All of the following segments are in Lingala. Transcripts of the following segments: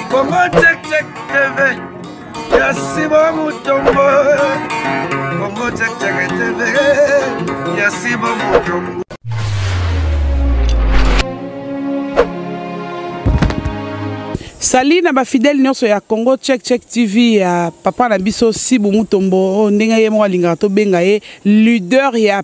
Congo check check TV ya Simon Mutombo Congo check check TV ya Simon Mutombo sali na bafidele nyonso ya congo check check tv ya papa na biso sibu mutombo oyo oh, ndenge ye moko alingaka tobenga ye leader ya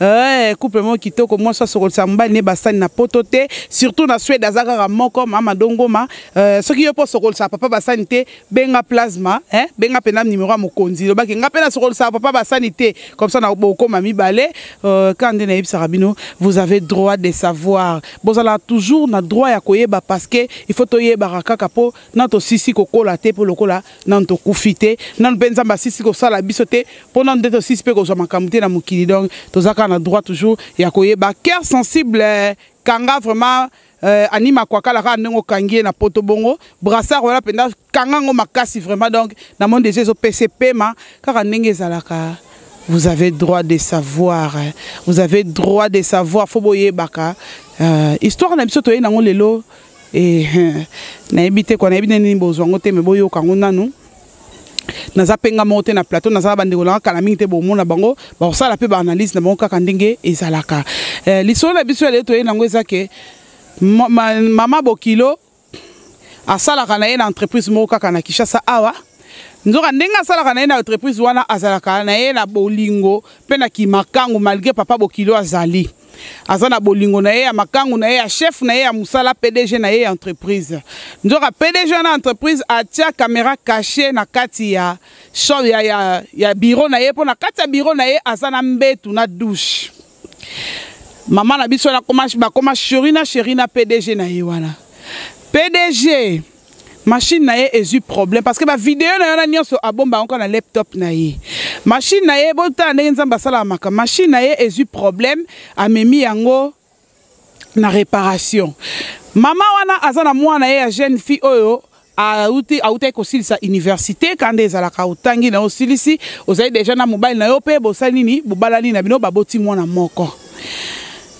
Eh, couple moko kitoko mwasi asokolisa mobali ne basani na poto te surtout na swede aza kaka moko mama dongoma eh, soki yo mpo osokolisa papa basani te benga plasma eh, benga mpenza nimero ya mokonzi lobaki nga mpe nasokolisaka papa basani te comme ça na bokoma mibale eh, ka nde nayebisaka bino vous avez droit de savoir bozala toujours na droit ya koyeba parce que il faut toyebaka kaka mpo na tosisi kokola te mpo lokola nanu tokufi te nanu mpe nzambe asisi kosala biso te mpo nanu nde tosisi mpe kozwa makambo te na mokili donc toza kaka na droit toujours ya koyeba cœur sensible eh, kanga vraiment euh, ani makwakala kaka ndenge okangi ye na poto bongo brassard wana mpenza kanga yango makasi vraiment donc na moni deja ezopesa epema kaka ndenge ezalaka vous avez droit de savoir eh. vous avez droit de savoir fo boyebaka euh, histoire na biso toyei nango lelo nayebi te kwa nayebi nde nini bozwa yango te me boyoka yango nanu naza mpe nga moko te na plateau naza na bandeko nanga kala mingi te bomona bango bakosala mpe baanalyse na bango kaka ndenge ezalaka eh, lisolo na biso ya lelo toyei nango eza ke mama bokilo asalaka na ye na entreprise moko kaka na kinshasa awa nzoka ndenge asalaka na ye na entreprise wana azalaka na ye na bolingo mpe na kimakangu malgre papa bokilo azali aza na bolingo na ye ya makangu na ye ya chef na ye ya mosala pdg na ye ya entreprise nzoka pdg wana entreprise atia kamera cache na kati ya, ya, ya, ya biro na ye mpo na kati ya biro na ye aza na mbetu na douche mama na biso bakoma sheri na sheri na pdg na ye wana pdg machine na ye ezwi problème parce que bavideo na wana nyonso abomba yango na laptop na ye machine na ye botala ndenge nzambe asalaka maka machine na ye ezwi problème amemi yango na réparation mama wana aza na mwana ye ya jeune fille oyo auti autaki kosilisa université kanda ezalaka otangi na yo osilisi ozali deja na mobali na yo mpe bosali nini bobalani na bino baboti mwana moko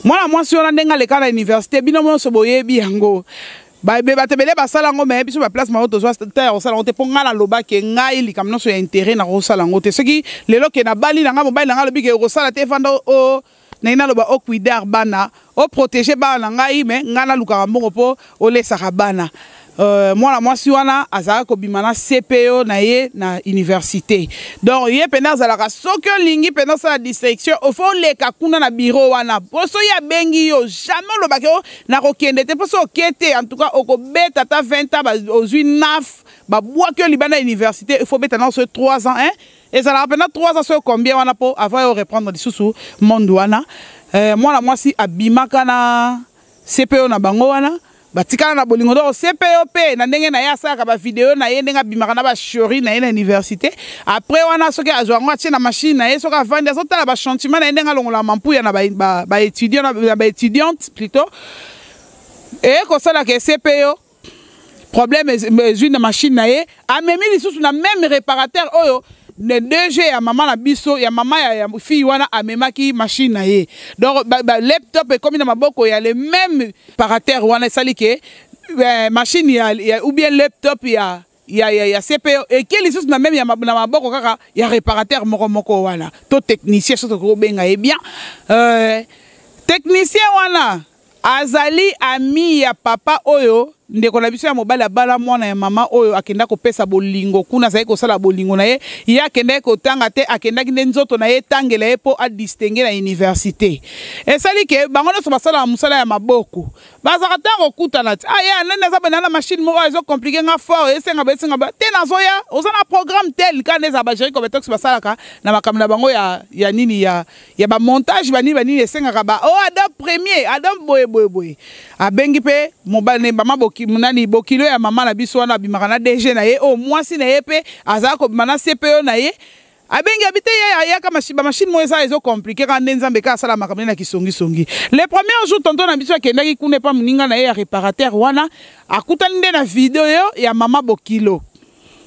mwana mwasi wana ndenge aleka na université bino nyonso boyebi yango bato ebele basala yango me biso baplace mao tozwa te ya kosala yango te mpo ngai nalobaki ngai likambo nyonso ya intere nakosala yango te soki lelo ke nabali na ngai mobali na ngai alobi ke okosala te efanda o oh, oh, naye naloba okuidar oh, bana oprotege bana na ngai me ngai nalukaka mbongo mpo olesaka bana Euh, mwana mwasi wana azalaki kobima na cpo na ye na université donc ye mpenza azalaka soki olingi mpenza osala distraction ofo oleka kuna na biro wana mpo soki abengi yo jamais olobaki nakokende te mpo soki oke te en tout cas okobeta ata 20 ans ozwi naf babwaki yo libanda ya université il faut obeta nao soki 3 ans hein? ezalaka mpena 3 ans soki combien wana mpo avant yo reprendre lisusu monde wana eh, mwana mwasi abimaka na cpo na bango wana batikala na bolingo donc cpo mpe na ndenge na ye asalaka bavideo na ye ndenge abimaka na bashori na ye na université apres wana soki azwa yango atie na mashine na ye soki avandi azotala bachantiment na ye ndenge alongola mampuya na baétudiant na baétudiante plutot eye kosalaka esepeyo problème ezwi na mashine na ye amemi lisusu na meme réparateur oyo ne DG ya mama na biso ya mama ya, ya fille wana amemaki machine na ye donc ba, ba laptop ekomi na maboko ya le même parateur wana esali ke eh, machine ya, ya, ou bien laptop ya ya, ya, ya CPO eke lisusu na meme ya na maboko kaka ya reparateur moko moko wana to technicien soki tokoki kobenga ye bien euh, technicien wana azali ami ya papa oyo ndeko na biso ya mobali abala mwana ya mama oyo akenda kopesa bolingo kuna azali kosala bolingo na ye ye akendaki kotanga te akendaki nde nzoto na ye etangela ye mpo adistingue na université esali ke bango nyonso basalaka mosala ya maboko bazaka ntango okutana ti aye ah, nani aza benda na machine moko ezo compliqué nga fort esenga besenga ba te nazoya oza na programme tel ka nde ezala bageri compétence basalaka na makambo na bango ya, ya nini ya, ya bamontage banini banini esengaka ba o oh, adam premier adam boye boye boye abengi mpe mobali mama boki, nani bokilo ya mama na biso wana abimaka na dg na ye oyo oh, mwasi na ye mpe azalaka kobima na cpo na ye abengi abi te ye ayaka ba machine moko eza ezo compliqué kaka nde nzambe kaka asala makambo na kisongisongi le premier jour tonton na biso akendaki kuna epa moninga na ye ya réparateur wana akutani nde na video ya mama bokilo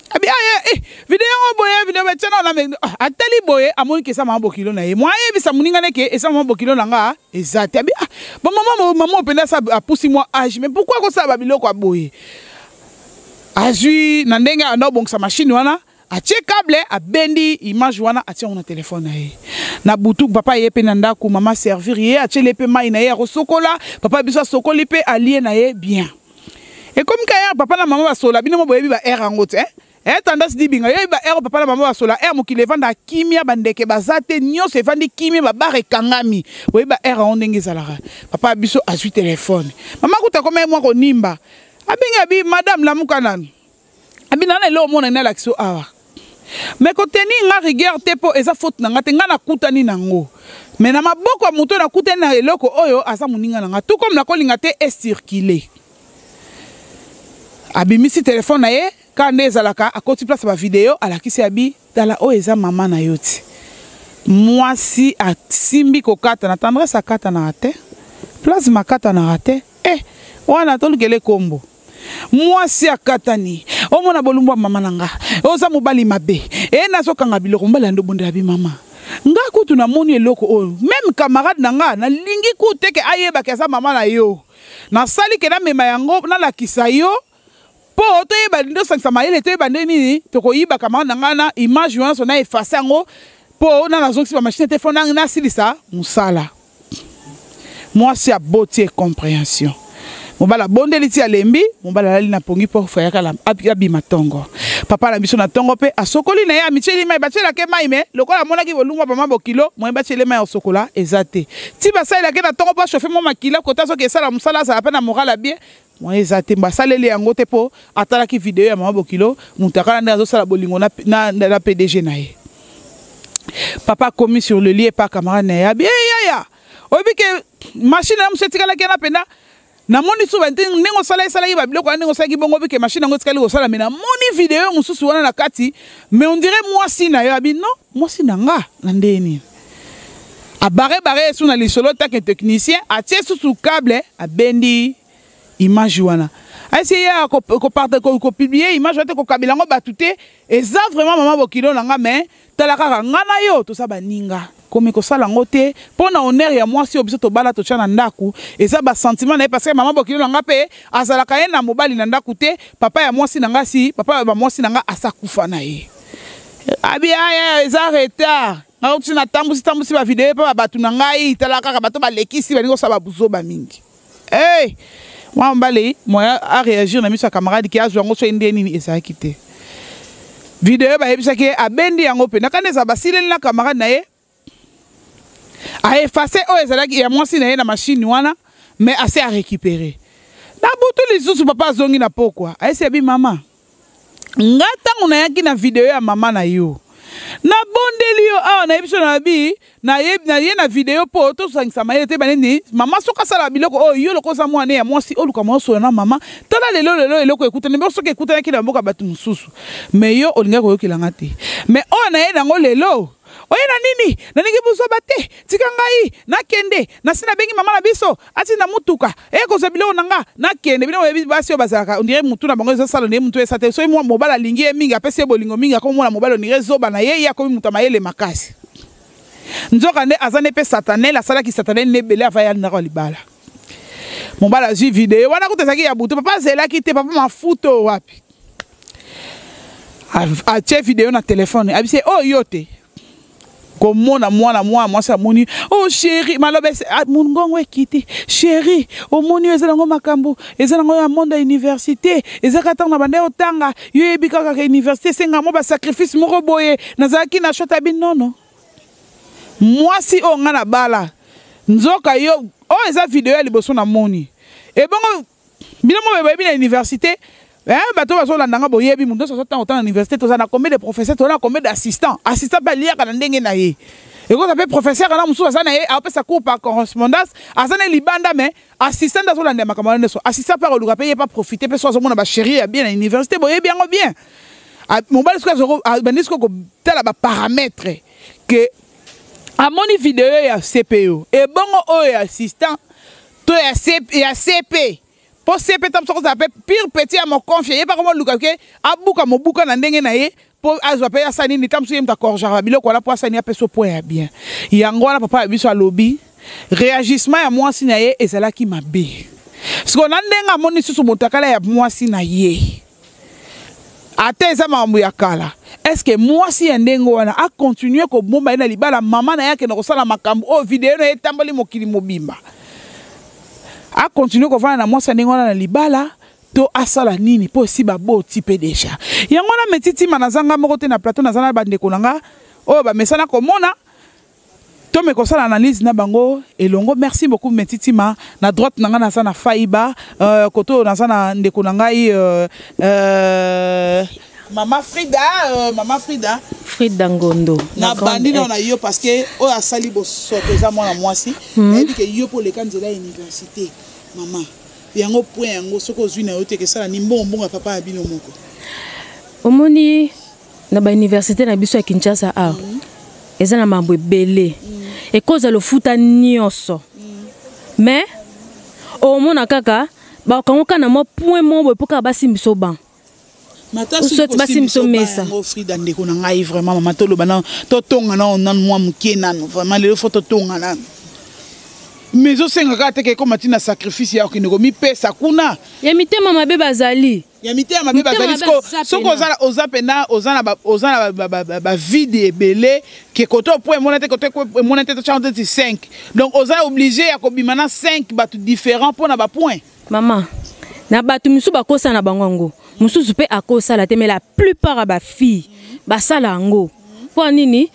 abi aye eh, video yango boye video batia na wana ah, atali boye amoni ke eza mama bokilo na ye mwa ayebisa moninga ne ke eza mama bokilo na nga eza te abi ah, bamama mama mpenza sa apusi mwa age mais pourkui akosala babiloko ya boye azwi na ndenge anda obongisa mashine wana atie cable abendi image wana atie yango na telefone na ye na butu papa ye mpe na ndako mama servir ye atieli ye mpe mai na ye ya kosokola papa biso asokoli mpe alie na ye bien ekomi ka ere papa na mama basola bino mo boyebi ba ere yango te e tendance dibinga yo yebi ba ere papa na mama basola ere mokili evanda kimia bandeke baza te nyonso evandi kimia babare ekangami boyebi ba ere yango ndenge ezalaka papa biso azwi telefone mama kuta komai mwa konimba abengi abi madame lamuka nanu abina na eloko mona nalakisi yo awa me koteni nga rigueur te mpo eza faute na nga te nga nakutani na yango me na maboko ya moto nakutani na eloko oyo aza moninga na nga tout comme nakolinga te ecircule abimisi telefone na ye kaka nde ezalaka akoti place bavideo alakisi abi tala oyo eza mama na yo ti mwasi asimbi kokatana tendresse akatanaka te plasma akatanaka te e eh, wana tolukele nkombo mwasi akatani omona bolumbu ya mama na nga oza mobali mabe e nazokanga biloko mobali yando bondela bi mama nga kutu namoni eloko oyo meme camarade na nga nalingi kutu teke ayebaki aza mama na yo nasali ke namema yango nalakisa yo mpo toyeba nde osangisa mayele toyeba nde nini tokoyiba camarade na nga na image wana so na efase yango mpo na nazongisi bamashine te fo nasilisa mosala mwasi aboti comprehension mobali abondeli ti alembi mobali alali na pongi mpo fayaka abima tongo papa na biso na tongo mpe asokoli na ye amityeli mai batyelake mai me lokola amonaki bolungwa bama bokilo moye batyeli mai osokola eza te ti basalelake na tongo mpo ashofe mwa makila kota soki esala mosala azala mpe na moral abie Mwa eza te basaleli yango te mpo atalaki video ya mama bokilo mutakala nde azosala bolingo na, na, na, na pdg na ye papa akomi sur le lie pa camarade na ye abi hey, yaya oyebi ke mashine na mosu etikalaki yana mpenza namoni suba ndenge osala esalaki babiloko wana ndenge osalaki bongo bike mashine yango etikali kosala me namoni video mosusu wana na kati me ondire mwasi na yo abi non mwasi na nga na ndenge nini abarebare ye su na lisolo take technicien atie susu cable abendi image wana aisi ye kopiblie image wana te kokabela yango bato te eza vraiment mama bokilo na nga mai tala kaka nga na yo toza baninga komi kosala yango te mpo na honere ya mwasi oyo biso tobala totya na ndako eza basentiment na ye parce que mama bokilo na nga mpe azalaka ye na mobali na ndako te papa ya mwasi na nga si papa ya bamwasi na nga asakufa na ye abi aya eza retard nakuti natambusi tambusi bavideo mpe babato na ngai tala kaka bato balekisi balingi kosala babuzoba mingi hey! mwana mobali moya areagir na miso ya camarade ke azwa yango soki nde nini ezalaki te video bayebisaki ye abendi yango mpe nakani eza basileli na camarade na ye a efface oyo ezalaki ya mwasi na ye na mashine wana mais ase a récupere na butu lisusu papa azongi na pokwa ayesi abi mama nga ntango nayaki na video ya mama na yo nabondeli yo awa nayebi so nabi naye na video mpo tosangisa mayele te banini mama soki asala biloko oyo yo lokola oza mwana ya mwasi oluka mwa osola na mama tala lelo lelo eloko ekutani mpe soki ekutanaki na mboka bato mosusu me yo olingaki koyokela nga te me oyo naye nango lelo oye na nini nalingi buzoba te tika ngai nakende nasi nabengi mama na biso atinda motuka eye kozwa biloko na nga nakende bino boyebi basi oyo bazalaka ondire motu na bango ezosala na ye motu esa te soki mwa mobali alingi ye mingi apesi ye bolingo mingi akomona mobali ondire zoba na ye ye akomi moto ya mayele makasi nzoka nde aza nde mpe satanel asalaki satanel nde ebele avaya ya ndako ya libala mobali azwi video wana kuta ezalaki ya butu papa azelaki te papa mafuto wapi atie video na telefone abise oyo oh, yo te komona mwana mwana mwasi amoni o oh, sheri maloba ah, mongongo ekiti sheri omoni oyo eza nango makambo eza nango ya monde ya université ezaka ntango na banda otanga yo yebi kaka ka université esenga mwa basacrifice moko boye nazalaki na shota bi nono mwasi oyo ngai na bala nzoka yo oyo oh, eza video ya liboso namoni ebongo bino moko boyebi na université eh, bato bazolanda nga boyebi moto nyonso azotanga otanga na université toza na combien de professeur toza na combien d'assistant assistant mpe aliaka na ndenge na ye ekoza mpe professeur wana mosusu aza na ye apesa cour par correspondance aza na libanda mais assistant nde azolanda ya makambo wana nyonso assistant mpe akoluka mpe ye mpe aprofite mpe so azomona bacherie ya bien na université boyebi yango bien ah, mobali soki abandi soki kotala baparametre ke amoni video ya cpo ebongo oyo ya assistant to ya CP, ya CP. po CP tamusa kozala pe pire petit ya mokonfia ye pa komoluka ke abuka mobuka na ndenge na ye mpo azwa mpe asala nini ntango mosusu ye moto akorjaka biloko wana mpo asala nini apesa point ya bien yango wana papa ya biso alobi réagissement ya mwasi na ye ezalaki mabe sikoyo na ndenge amoni lisusu motakala ya mwasi na ye ata eza makambo ya kala eske mwasi ya ndenge wana akontinue kobomba ye na libala mama na ye akende kosala makambo oyo video na ye etamboli mokili mobimba akontinue kovanda na mwasi ya ndenge wana na libala to asala nini mpo esi baboti mpe deja yango wana metitima naza nga moko te na plateau naza na bandeko na nga oyo bamesana komona To me kosala analyse na bango elongo merci beaucoup metitima na droite na ngai naza na faiba euh, kote oyo naza na ndeko na ngai euh, euh, mama frida euh, mama frida frida ngondo nabandi nao na yo parce que oyo asali bosoto eza mwana mwasi hmm. nayebi ke yo mpo oleka nzela ya université mama yango point yango soki ozwi na yo te kesala ni mbongo mbongo ya papa ya bino moko omoni na ba université na biso ya Kinshasa a ah, eza na mambo ebele ekoza lofuta nyonso mais omona kaka bakango kaka na mwa point moko boye mpo kaka basimbisa oban soki basimbisa omesa frida ndeko na ngai vraiment mama toloba nano totonga nano nano mwa moke nano vraiment lelo fo totonga nano mais osenga kaka teke ekoma ntina sacrifice ya okende komipesa kuna ya mitema mabe bazali ya mitema mabe bazali soki oza mpena oza na bavide ebele ke kote opo emona te kote emona te tocyango teti 5 donc oza oblige ya kobima na 5 bato différent mpo na bapoint mama na bato mosusu bakosana bango yango mosusu mpe akosala te mais la plupart ya bafille basala yango mpo nini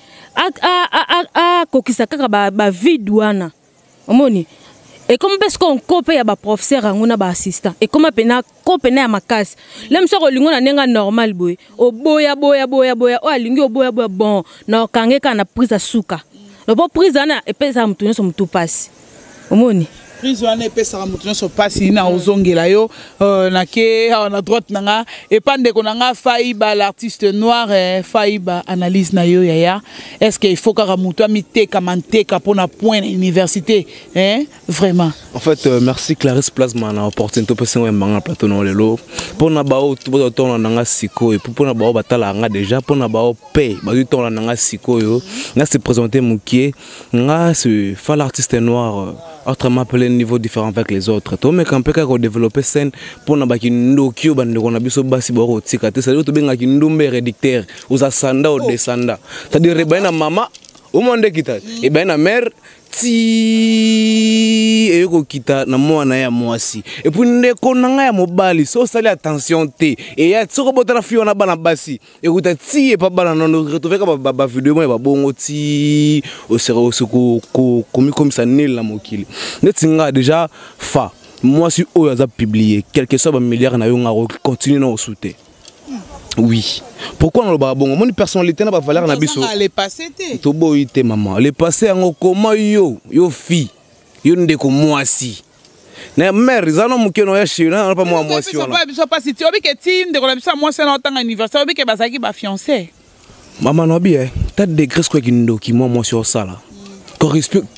akokisa kaka bavide wana ba omoni ekomi mpe sikoyo nko mpe ya baprofesseur yango na baassistant ekoma mpena ko mpena ya makasi lem soki olingo na ndenge normal boye oboya boya boya boya oyo alingi oboya boya bon na okange kaka na prise ya suka lopo prise wana epesaka moto nyonso motu mpasi omoni prise wana epesaka moto nyonso mpasi na ozongela yo euh, nake awa na droite na nga epa ndeko na nga faiba l'artiste noir eh, faiba analyse na yo yaya est ce que il faut kaka moto amiteka manteka mpo na point na université hein? vraiment en fait euh, merci clarisse plasma na opportunité opesi ngo yambanga na plateau nao lelo mpo na baoyo bazwa tongola na nga sikoyo epuis mpo na baoyo batalaka nga déjà mpo na baoyo mpe bazwi tongola na nga sikoyo nga se présente mokie nga se fa l'artiste noir euh, autrement appelé niveau différent avec les autres tomeka mpe kaka kodéveloppe scène mpo na bakindoki oyo bandeko na biso basi bakotika te sadire tobengaki ndumba eredictaire oza sanda o desanda c'est à dire ebani na mama omo nde kita ebani na mère ti eye kokita na mwana ya mwasi epuis ndeko na ngai ya mobali so osali attention te eya soki obotala fi wana bana basi ekuta ti epa bana nono retrouveka bavideo moko ya babongo ti osi komikomisa nil na mokili neti ngai deja fa mwasi oyo aza publie quelque soit bamilliare na yo ngai akoki continue na osu te oui pourquoi nalobaka bongo omoni personnalité na bavaleur na biso toboyi te mama le passé yango koma yo yo fille yo ndeko mwasi na mare eza no moke noya chéri na napa mwa mwasi wana biso mpasi ti obike ti ndeko na biso ya mwasi wana otanga université obike bazalaki bafiancé mama na bi eh, ta degre sikoyo kindoki mwa mwasi osala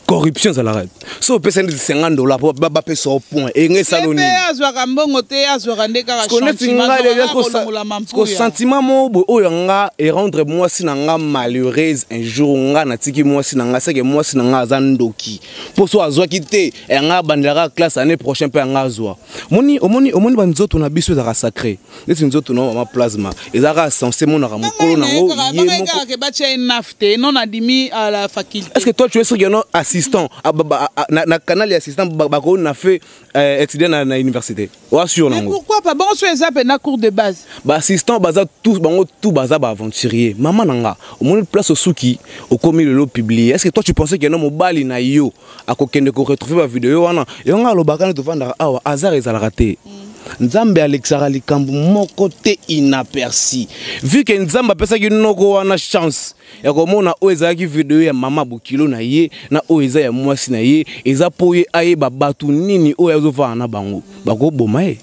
corruption ezalaka so opesa nde 50 dola po bapesa o point enge esalo nini azwaka mbongo te azwaka nde kakasko sentiment moko boye oyo nga erendre mwasi na nga malheureuse un jour nga natiki mwasi na nga seke mwasi na nga aza ndoki mpo so azwaki te yanga abandelaka classe année prochain mpe yanga azwa omoni omoni omoni banzoto na biso ezalaka sacré neti nzoto na mama plasma ezalaka sense emonaka mokolo nango yemokake batya ye naf te non adimi à la faculté est ce que toi tu es sûr que non assistant ah, na canal ya assistant bakoki na fait euh, étudiant na, na université oa sûr nango pourquoi pas bango so eza mpena cours de base baassistant baza tous bango tout baza baaventurier mama na nga omoni place osuki okomi lelo publie est ce que toi tu pensais que non mobali na yo akokende ko retrouver ba video wana yo nga alobaka ne tovandaka awa hasard ezalaka te mm. nzambe alekisaka likambo moko te inaperci vu ke nzambe apesaki noko wana chance ya komona oyo ezalaki video ya mama bokilo na ye na oyo eza ya mwasi na ye eza mpo ye ayeba bato nini oyo azofana na bango bakoboma ye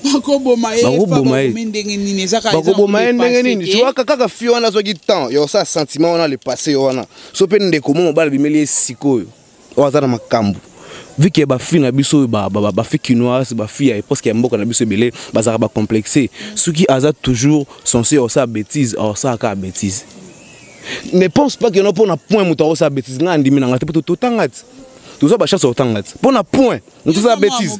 bakoboma ye ndenge nini ezaka bakoboma ye ndenge nini tiwaka kaka fi wana azwaki temps yo sa sentiment wana le passé yo wana so mpe ndeko mo mobali bimeli ye sikoyo oyo aza na makambo vu que bafi na biso oyo bafi kinoise bafi ya eposke ya mboka na biso ebele bazalaka bacomplexe soki aza toujours sense osala bétise osala kaka bétise ne pense pas que no mpo na point moto akosala bétise ngai andimi na ngai te mpo totanga ti toza bachance ya kotanga ti mpo na point moto osala bétise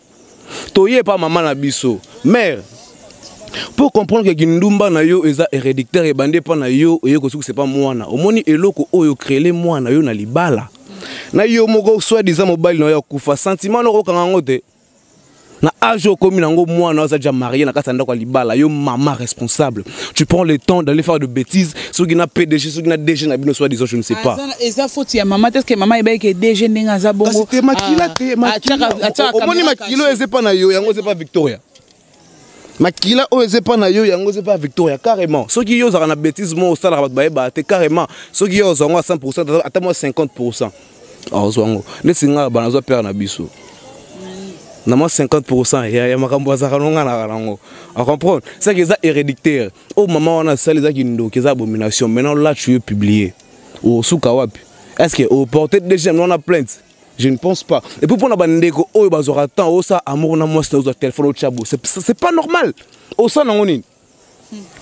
toye pa mama na biso mère pour comprendre que kindumba na yo eza héréditaire ebandi epa na yo oye kosukisa epa mwana omoni eloko oyo créele mwana yo na libala na yo moko soit disant mobali na yo akufa sentiment noko okanga yango te na age okomi nango mwana aza deja marie na kati ya ndako ya libala yo mama responsable tu prends le temps d'aller faire de bêtises soki na pdg soki na dg na bino soit disant je ne sais pas eza faute ya mama teske mama ebai ke dg ndenge aza bongo te makila te ah, omoni makilo eza epa na yo yango eza epa victoria makila oyo eza epa na yo yango eza epa victoria carrément soki yo ozalaka na bêtise moko osalaka bato bayebaka te carrément soki yo ozwa yango ya 100 ata mwa 50 azwa yango neti ngai bana azwa pere na biso na mwa 50 pourcent ya makambo azalaka nonganaka nango acomprendre seke eza hérédictaire oyo oh, mama wana asali eza kindoki eza abomination maintenant lachu yo publie osuka oh, wapi est ce que oporte oh, deuxième wana plainte je ne pense pas et puis mpona bandeko oyo bazwaka temps osa amour na mwasi na ozwa telefone otya bo c'est pas normal osala nango nini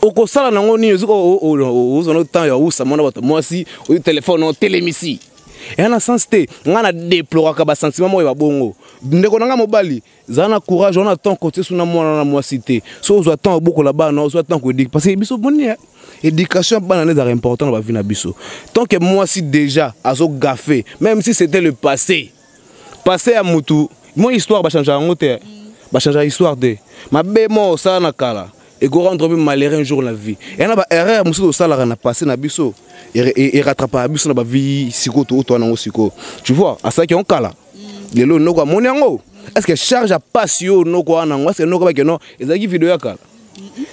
okosala nango nini ozoka ozwa no temps ya usa mwana bato mwasi oyo telefone otelemisi eya na sens te ngai na deploraka basentiment moko ya babongo ndeko na ngai mobali zala na courage wana temps kotie so na mwana na mwasi te so ozwa temps obokola bana ozwa temps koedik parce que biso boni eh, éducation ya bana nde ezalaka important na bavi na biso tant que mwasi déjà azogafe même si c'était le passé passé ya mutu mon histoire ba changer yango te ba changer histoire te mabe mo osala na kala et go rendre même malheureux un jour la vie et na ba erreur mususu osala na passé na biso et rattrapera biso na ba vie siko to to na ngo siko tu vois asaki on kala lelo noko amoni yango est ce que charge a passe yo noko wana ngo est ce que noko ba que non ezaki vidéo ya kala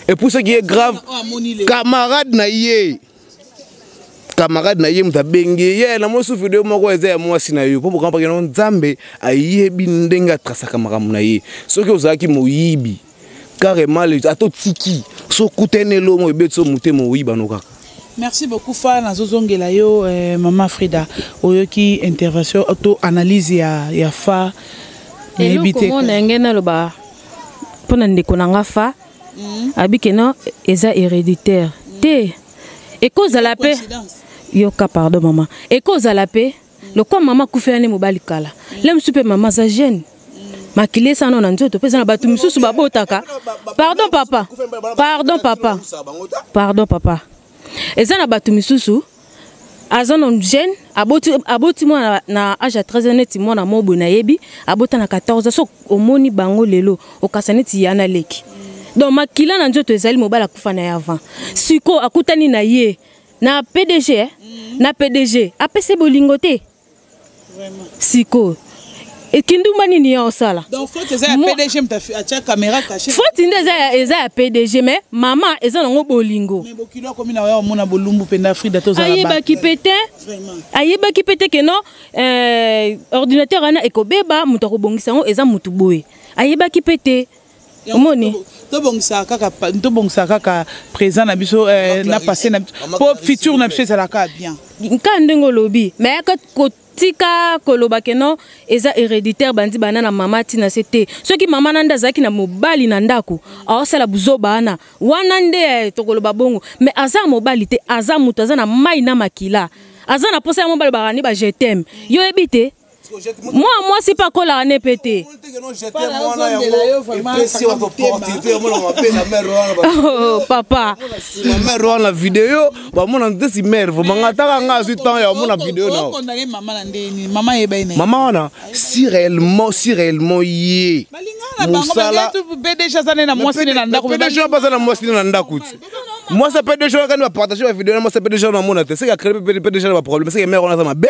et pour ce qui est grave oh, camarade na ye camarade na ye moto abengi ye yeah, na mosu video moko eza ya mwasi na yo mpo bokampaki yango nzambe ayebi ndenge atrasaka makambo na ye soki ozalaki moyibi carrément ata otiki so okutani elongo ebeti so motema oyiba no kaka merci beaucoup fa nazozongela yo eh, mama frida oyoki intervention to analyse ya, ya fa nayebi te eloko mona yange naloba mpo na ndeko na nga fa mm. abi ke non eza héréditaire mm. te ekozala mpe yoka pardon mama ekozala mpe mm. lokwa mama akufela nde mobali kala mm. le mosusu mpe mama aza jeune makili esana na nzoto mpe eza na bato mosusu babotaka pardon papa pardon papa pardon papa eza na bato misusu aza na jeune aboti aboti mwana na age ya 13 neti mwana moko boye nayebi abota na 14 so omoni bango lelo okasa neti ya naleki donc makila na nzoto ezali mobali akufa na ye avant sikoyo akutani na ye na pdg eh? na pdg apesi bolingo te sikoyo ekindumba nini ya osala foti nde eza ya pdg me mama eza nango bolingo ayebaki pe te ayebaki pe te keno eh, ordinateur wana ekobeba moto akobongisa yango eza motu boye ayebaki pe te omoni tobongisaka kaka tobongisaka kaka présent na biso eh, na passé na biso mpo futur na biso ezalaka bien nkaa ndenge olobi mais yaka tika koloba ke non eza héréditaire bandi bana na mama ntina se te soki mama na nde azalaki na mobali na ndako aosala buzoba wana wana nde eh, tokoloba bongo mais aza mobali te aza moto aza na mai na makila aza na mposa ya mobali bakani ba je teme yo oyebi te mwana mwasi mpe akolaka ne mpe te oh, papa mamare wana video bamona ntesi mare vraimen nga ataka nga azwi temps ya bamona video nao mama wana si réellement si réellement ye mosala pdg aza na mwasi ne na ndako pdg aza na mwasi ne na ndako ti mwasi ya pdg wana kani bapartage bavideo na mwasi ya pdg wana amona te seke akree pdg na baproblème seke mare wana aza mabe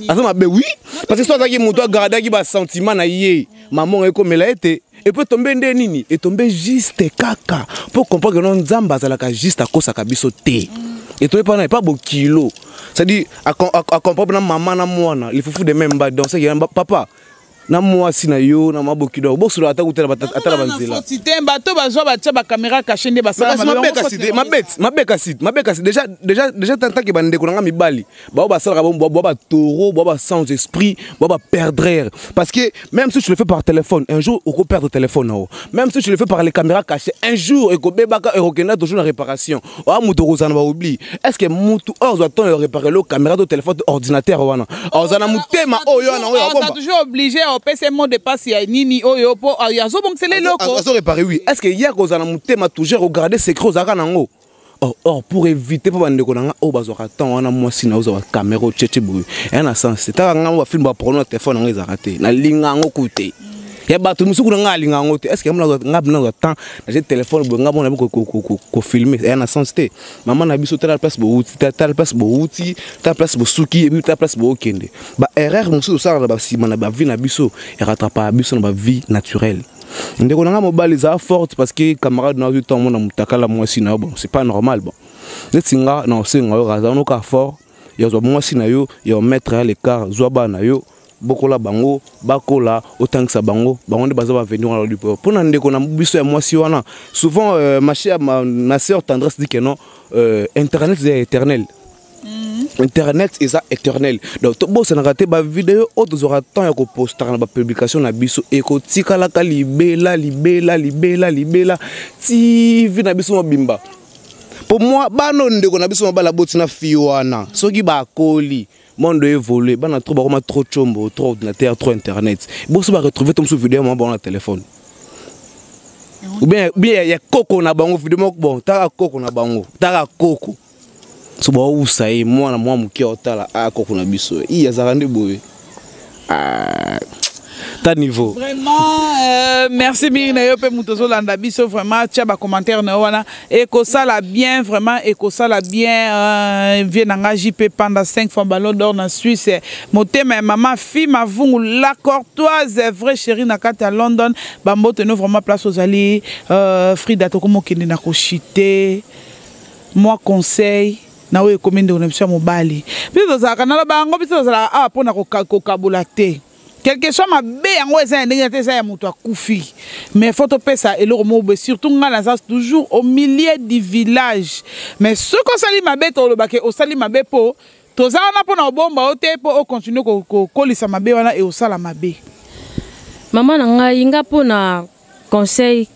aza mabe wi parce que so azalaki moto agardaki basentiment na ye mamonga ekomela ye te epo etombe nde nini etombe juste kaka mpo comprendre no nzambe azalaka juste akosaka biso te etombe mpo na epa bokilo c'est-à-dire acomprendre na mama na mwana lifufu de même ba danse papa na mwasi na yo na maboki na bosola ata kutala ata na banzela te bato bazwa batya bakamera kashe nde basalamabekasi deja tantanke bandeko na ngai mibali bao basalaka bwa batoro bwa ba sans esprit bwa baperdrere parce que même si tu le fais par téléphone un jour okoperdre téléphone nao même si tu le fais par les caméras cachées un jour ekobebaka ekokenda toujours na réparation oya moto okozala na baoubli est ce que motu oyo azwa temps ya réparer lo caméra to téléphone to ordinateur wana aza na motema oyo wana oyo aza toujours obligé opesa mot de passe ya nini oyo mpo azobongisela eloko azo réparer oui est ce que ye akozala na motema toujours ogarde secret ozalaka nango or, oh, or oh, pour éviter mpo bandeko na nga oyo oh, bazwaka temps wana mwasi na ozwa bakamera otietie boye eya na sens te taka ngai bafilme baprono na telefone yango ezalaka te nalinga yango ku te ya bato mosuku na ngai alinga yango te estce ngai bina zwa temps natie telefone boye ngai mona kofilme eya na sens te mama na biso tala place bouti tala place bouti tala place bosuki ebi tala place bookende baerreur mosusu osalaka na basima na bavie na biso erattrapaka biso na bavie naturelle ndeko na ngai mobali eza forte parce que camarade na azwi ntango mona motakala mwasi na yo bon c'est pas normal bon neti nga na osenga yo kaza noka fort ya zwa mwasi na yo ya omettre ya l'écart zwa bana na yo bokola bango bakola otangisa bango bango nde baza bavenir wana lodi mpo na ndeko na biso ya mwasi wana souvent euh, ma chère ma, ma sœur tendresse dit que non euh, internet eza ya éternel Mm. internet eza éternel donc tobosanaka te bavideo oyo tozwaka temps ya kopostaka na bapublication na biso ekotikalaka libela libela libela libela tv na biso mobimba mpo mwa bana ndeko na biso mabala boti na fi wana soki bakoli monde évolue bana trop bakoma trop combo trop ordinateur trop internet boso baretrouve to mosusu video ya mama bango na telefone ou bien ya koko na bango video moko bon taka koko na bango taka koko so bawusa ye mwana mwa moke otala akoko na biso i azalaka nde boye ah, ta niveau vraiment euh, merci mingi na yo mpe moto ozolanda biso vraiment tya bacommentaire na yo wana ekosala bien vraiment ekosala bien euh, vie na ngai jp panda 5 fois ballon d'or na suisse motema ya mama fi mavungu la cortoise vrai chéri na kati ya london bambote no vraiment place ozali euh, frida tokomokende na koshite mwa conseil na oyo ekomi ndeko na biso ya mobali biso tozalaka nalo bango biso tozalaka awa mpo na kokabola te quelque soit mabe yango eza ya ndenge na te eza ya moto akufi mais faut topesa eloko moko boye surtout ngai naza toujours au milieu du village mais soki osali mabe tolobake osali mabe mpo toza wana mpo na kobomba yo te mpo okontinue kokolisa mabe wana e osala mabe mama na ngai nga mpo na conseil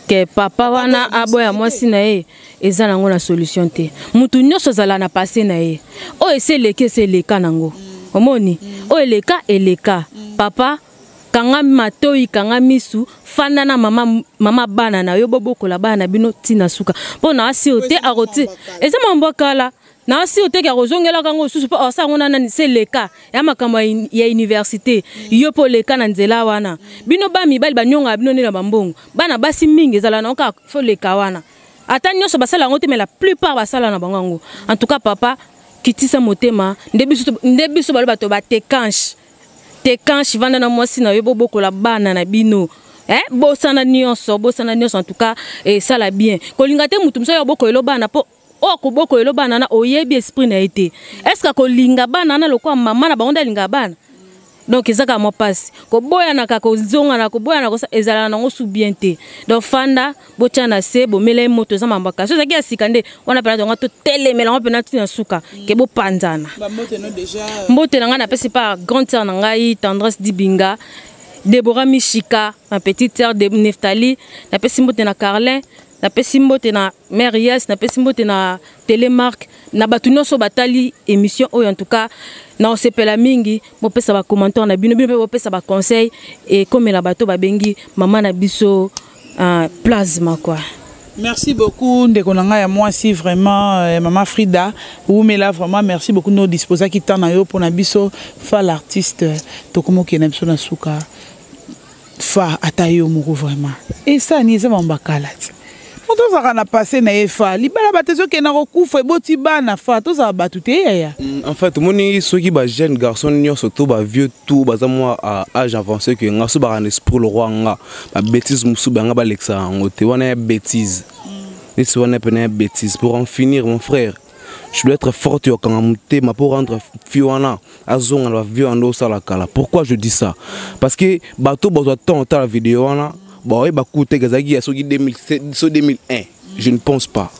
ke papa wana aboya mwasi na ye eza nango na solution te mutu nyonso azala na passe na ye oyo esi eleki esi eleka nango omoni oyo eleka eleka papa kanga matoi kanga misu fanda na mama, mama bana na yo bobokola bana na bino ntina suka mpo na asio te akoti eza mambo kala na si oteki akozongelaka yango lisusu mpo asa yango na nani se leka ya makambo ya université yo mpo leka na nzela wana bino ba mibali banyongaka bino nde na bambongo bana basi mingi ezala na oka fo leka wana ata nyonso basala yango te mais la plupart basala na bango yango en tout cas papa kitisa motema nde biso nde biso balo bato batekanche tekanche vanda na mwasi na yo bobokola bana na bino eh, bosana nyonso bosana nyonso en tout cas esala eh, bien kolinga te motu mosusu ya bokoyelo bana mpo oyo akoboko elo bana na oyebi esprit na ye te est ce que akolinga bana na lokola mama na bango nde alingaka bana donc eza kaka mwa mpasi koboyanaka kozongana koboyana ezalaka nango su bien te donc fanda botya na se bomela ye moto eza mambo kasi ozalaki ya sika nde wana mpena tonga totelemela yango mpena ntina suka ke bopanzana mbote na ngai napesi pa grande sœur na ngai tendresse dibinga debora mishika ma petite sœur de neftali napesi mbote na carlin napesi mbote na mère yes napesi mbote na telemark na bato nyonso batali émission oyo en tout cas na osepela mingi bopesa bacommentaire na bino bino mpe bopesa baconseil ekomela bato babengi mama na biso uh, plasma quoi merci beaucoup ndeko na ngai ya mwasi vraiment euh, mama frida wumela vraiment merci beaucoup no disposaki temps na yo mpo na biso fa l'artiste tokomokende na biso na suka fa ata yo moko vraiment esani eza mamba kala ti moto azalaka na passe na ye fa libala bato ezokenda kokufa eboti bana fa tozala bato te yaya mm, en fait omoni soki ba jeune garçon nyonso to ba vieux tout baza mwa à âge avancé ke nga so baka na esprit lokwa nga ba bêtise mosusu banga balekisa yango te wana ya bêtise mm. neti wana pena ya bêtise pour en finir mon frère je dois être forte yokanga motema pour rendre fi wana azonga na ba vieux ando sala kala pourquoi je dis ça parce que bato bazwa temps otala video wana baoye bakuteke ezalaki ya soki 2001 je ne pense pas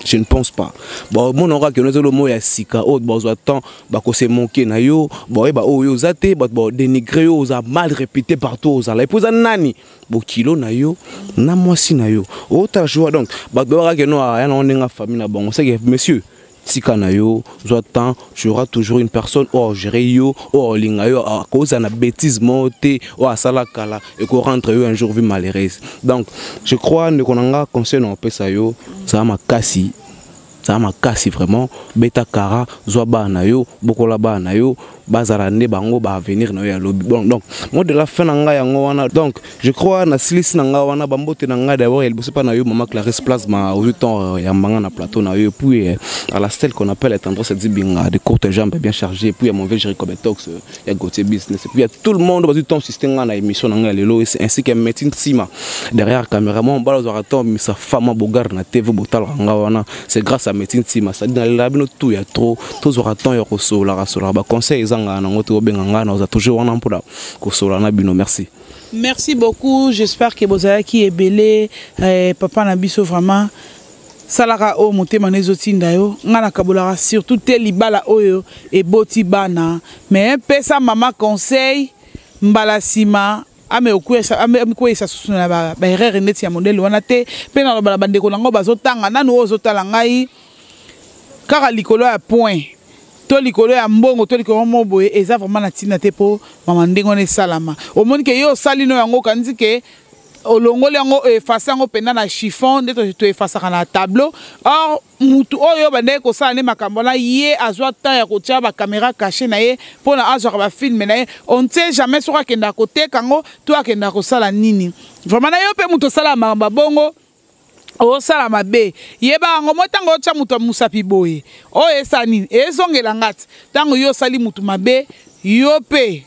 je ne pense pas baomonaka kaka keno ezali omo ya sika oyo bazwa temps bakose moke na yo baoyeba oyo yo oza te bato badenigre yo oza mal répété partout ozala epo eza nani bokilo na yo na mwasi na yo otala joa donc bato bayebaka keno aya nango ndenge famille na bango seke monsieur tika na yo zwa temps tu auras toujours une personne oyo agere yo oyo olinga yo akozala na bétise moko te oyo asala kala ekorendre yo un jour vie malheureuse donc je crois ndeko na nga conseil na kopesa yo zala makasi zala makasi vraiment beta kara zwa bana na yo bokola bana na yo bazala nde bango ba avenir na yo ya lobi bon donc moi de la fin na ngai yango wana donc je crois na silisi na ngai wana bambote na ngai d'abord ya liboso mpa na yo mama clarisse plasma ozwi temps euh, ya mbanga na plateau na yo puis euh, à la stelle qu'on appelle tendresse dibinga de courte jambe bien chargé puis ya mon vieux jericobe tox euh, ya gautier business puis ya tout le monde bazwi temps siste ngai na émission na ngai ya lelo ainsi que médecine nsima derrière caméraman bala ozwaka temps misa fama bogarde na tv botalaka ngai wana c'est grâce à médecine sima c'est dans la bino tout ya trop tous aura temps ya kosola kasola ba conseil ezanga na ngoto obenga ngana oza toujours wana mpona kosola na bino merci merci beaucoup j'espère que bozalaki ebele eh, papa na biso vraiment salaka oyo motema na ezotinda yo ngai nakabolaka surtout te libala oyo eboti bana mais pesa mama conseil mbala nsima amikweisa susu na baerreur neti ya modele wana te mpe naloba na bandeko na yango bazotanga nanu oyo ozotala ngai kaka likolo ya point to likolo ya mbongo to likolo mo boye eza vraiment na ntina te mpo mama ndenge wana esalama omoni ke ye osali no yango okanisi ke olongoli yango efase yango mpenza na chiffon nde toefasaka na tableau or mutu oyo obandaki kosala nde makambo wana ye azwa temps ya kotya bakamera kashe na ye mpo na azwaka bafilme na ye on ne sait jamais soki akendaka koteka yango to akendaka kosala nini vraiment na yo mpe moto osalaka makambo ya bongo osala mabe yeba yango mo ntango otya moto ya mosapi boye oyo esala nini ezongela ngati ntango yo osali moto mabe yo mpe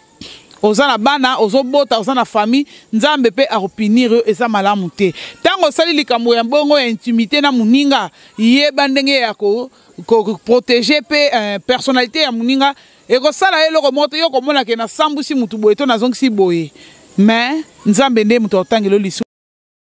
oza na bana ozobota oza na famille nzambe mpe akopinir yo eza malamu te ntango osali likambo ya bongo ya intimité na moninga yeba ndenge ya koprotege ko, ko mpe eh, personnalité ya moninga ekosala ye eloko moko te yo okomona ke nasambwisi motu boye to nazongisi boye mais nzambe nde moto akotangela yo lisu